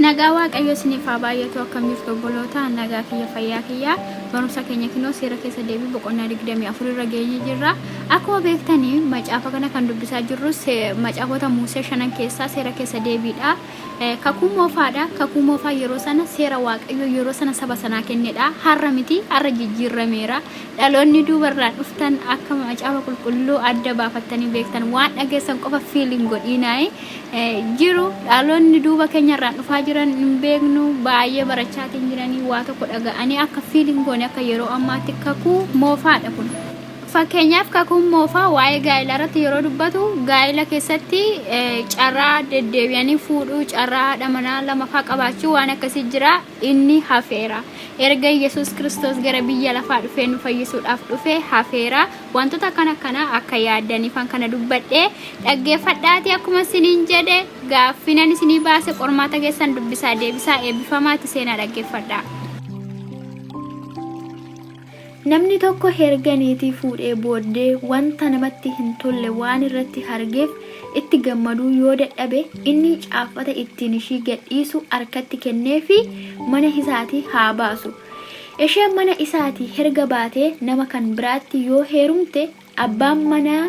Nagaa Waaqayyo isiniif haa baay'atu akkam jirtu obboloota nagaa kiyya fayyaa kiyya barumsa keenya kinoo seera keessa deebii boqonnaa 24 irra geenye jirra akkuma beektani macaafa kana kan dubbisaa jirru se- macaafota muusee shanan keessaa seera keessa deebiidha Eh, kakuu moofaadha kakuu moofaa yeroo sana seera waaqayyo yeroo sana saba sanaa kennedha har'a miti har'a jijjiirrameera Dhaloonni duubarraa dhuftan akka macaafa qulqulluu adda baafattanii beektan waan dhageessan qofa fiil hin godhiinaayi jiru dhaloonni duuba keenyarraan dhufaa jiran hin beeknu baay'ee barachaatiin jiranii waa tokko dhaga'anii akka fiil hin goone akka yeroo ammaatti kakuu moofaadha kun. Fakkeenyaaf kakuun moofaa waa'ee gaa'ela irratti yeroo dubbatu gaa'ela keessatti carraa deddeebi'anii fuudhuu carraa haadha manaa lamafaa qabaachuu waan akkasii jira inni hafeera. Erga Yesuus Kiristoos gara biyya lafaa dhufee nu fayyisuudhaaf dhufe hafeera. Wantoota akkan akkanaa akka yaaddaniifan kana dubbadhe. Dhaggeeffadhaatii akkuma isiniin jedhe gaaffinan isinii baase qormaata keessan dubbisaa deebisaa eebbifamaati seenaa dhaggeeffadhaa. Namni tokko herga niitii fuudhee booddee wanta namatti hin tolle waan irratti hargeef itti gammaduu yoo dadhabe inni caaffata ittiin ishii gadhiisu arkatti kenneefii mana isaatii haa baasu. Isheen mana isaatii herga baatee nama kan biraatti yoo heerumte Abbaan manaa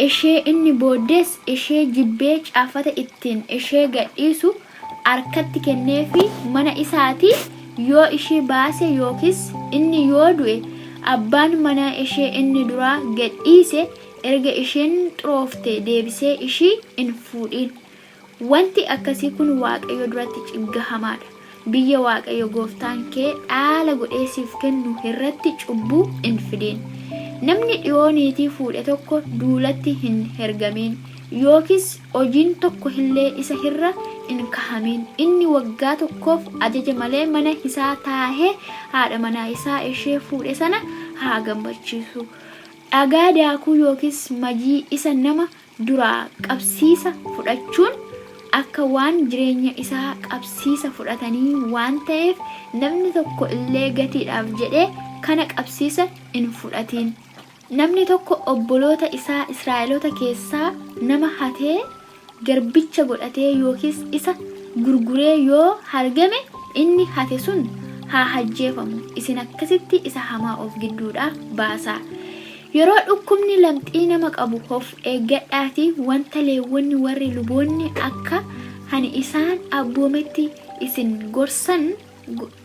ishee inni booddees ishee jibbee caaffata ittiin ishee gadhiisu arkatti kenneefii mana isaatii yoo ishii baase yookiis inni yoo du'e abbaan manaa ishee inni duraa gadhiise erga isheen xuroofte deebisee ishii in fuudhiin. Wanti akkasii kun Waaqayyo duratti ciggahamaa dha. Biyya Waaqayyo gooftaan kee dhaala godhee siif kennu irratti cubbuu hin fidin. Namni dhiyoo niitii fuudhe tokko duulatti hin hergamin, yookiis hojiin tokko illee isa irra hin kahamin. Inni waggaa tokkoof ajaja malee mana isaa taa'ee haadha manaa isaa ishee fuudhe sana haa gammachiisu. Dhagaa daakuu yookiis majii isa nama duraa qabsiisa fudhachuun akka waan jireenya isaa qabsiisa fudhatanii waan ta'eef namni tokko illee gatiidhaaf jedhee kana qabsiisa hin fudhatiin. Namni tokko obboloota isaa Israa'eloota keessaa nama hatee garbicha godhatee yookiis isa gurguree yoo hargame inni hate sun haa hajjeefamu, isin akkasitti isa hamaa of gidduudhaa baasaa. Yeroo dhukkubni lamxii nama qabu of eeggadhaatii wanta Leewwonni warri luboonni akka ani isaan abboometti isin gorsan,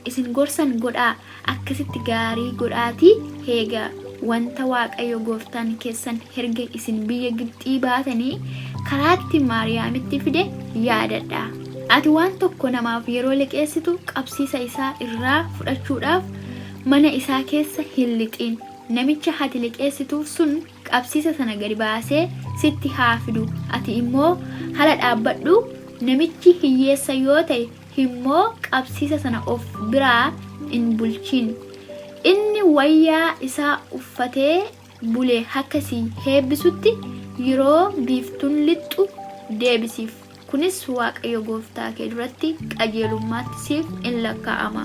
isin gorsan godhaa, akkasitti gaarii godhaatii eegaa, wanta Waaqayyo gooftaan keessan erga isin biyya Gibxii baatanii karaatti Maariyaamitti fide yaadadhaa. Ati waan tokko namaaf yeroo liqeessitu qabsiisa isaa irraa fudhachuudhaaf mana isaa keessa hin lixin. Namicha hati liqeessituuf sun qabsiisa sana gadi baasee sitti haa fidu, ati immoo hala dhaabbadhu, namichi hiyyeessa yoo ta'e immoo qabsiisa sana of biraa in bulchin. Inni wayyaa isaa uffatee bule akka si heebbisutti, yeroo biiftuun lixxu deebisiif. Kunis Waaqayyo gooftaa kee duratti qajeelummaatti siif in lakkaa'ama.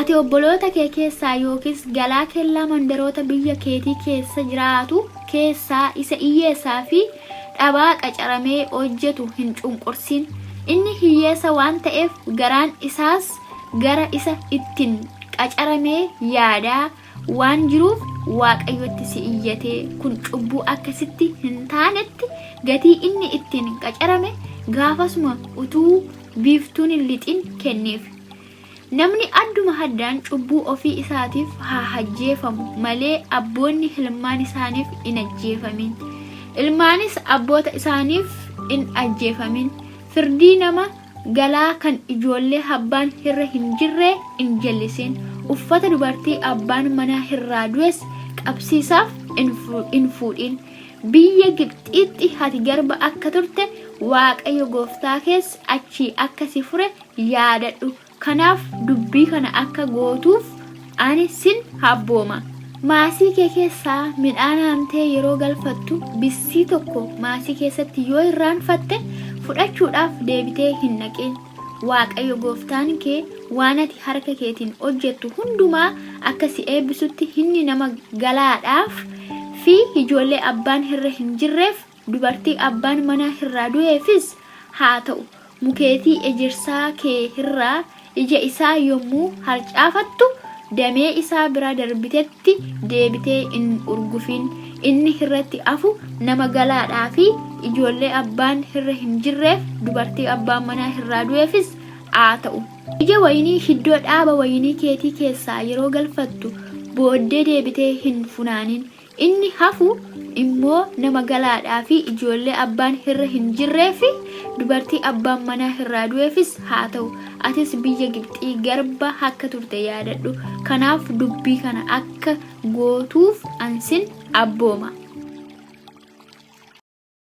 Ati obboloota kee keessaa yookiis galaa kellaa mandaroota biyya keetii keessa jiraatu keessaa isa iyyeessaa fi dhabaa qacaramee hojjetu hin cunqursin. Inni hiyyeessa waan ta'eef garaan isaas gara isa ittin qacaramee yaadaa, waan jiruuf Waaqayyotti si iyyatee kun cubbuu akka sitti hin taanetti gatii inni ittiin qacarame gaafasuma utuu biiftuun hin lixin kenneef. Namni adduma haddaan cubbuu ofii isaatiif haa hajjeefamu malee abboonni hilmaan isaaniif hin ajjeefamin. Ilmaanis abboota isaaniif hin ajjeefamin. Firdii nama galaa kan ijoollee habbaan hirra hin jirre in jallisiin uffata dubartii abbaan manaa hirraa du'es qabsiisaaf in fuudhiin biyya gibxiitti hati garba akka turte waaqayyo gooftaa kees achii akka si fure yaadadhu kanaaf dubbii kana akka gootuuf Ani sin habbooma. Maasii kee keessaa midhaan haamtee yeroo galfattu bissii tokko maasii keessatti yoo irraanfatte fudhachuudhaaf deebitee hin dhaqin. Waaqayyo gooftaan kee waan ati harka keetiin hojjettu hundumaa akka si eebbisutti inni nama galaadhaaf fi ijoollee abbaan hirre hin jirreef Dubartii abbaan manaa hirraa du'eefis haa ta'u, mukeetii ejersaa kee hirraa ija isaa yommuu harcaafattu, damee isaa bira darbitetti deebitee in urgufin, inni hirratti afu nama galaadhaa fi ijoollee abbaan hirra hin jirreef, dubartii abbaan manaa hirraa du'eefis aa ta'u. Ija wayinii hiddoo dhaaba wayinii keetii keessaa yeroo galfattu booddee deebitee hin funaanin, Inni hafu immoo nama galaadhaa fi ijoollee abbaan hirra hin jirree fi dubartii abbaan manaa hirraa du'eefis haa ta'u, atis biyya Gibxii garba akka turte yaadadhu, kanaaf dubbii kana akka gootuuf an sin abbooma.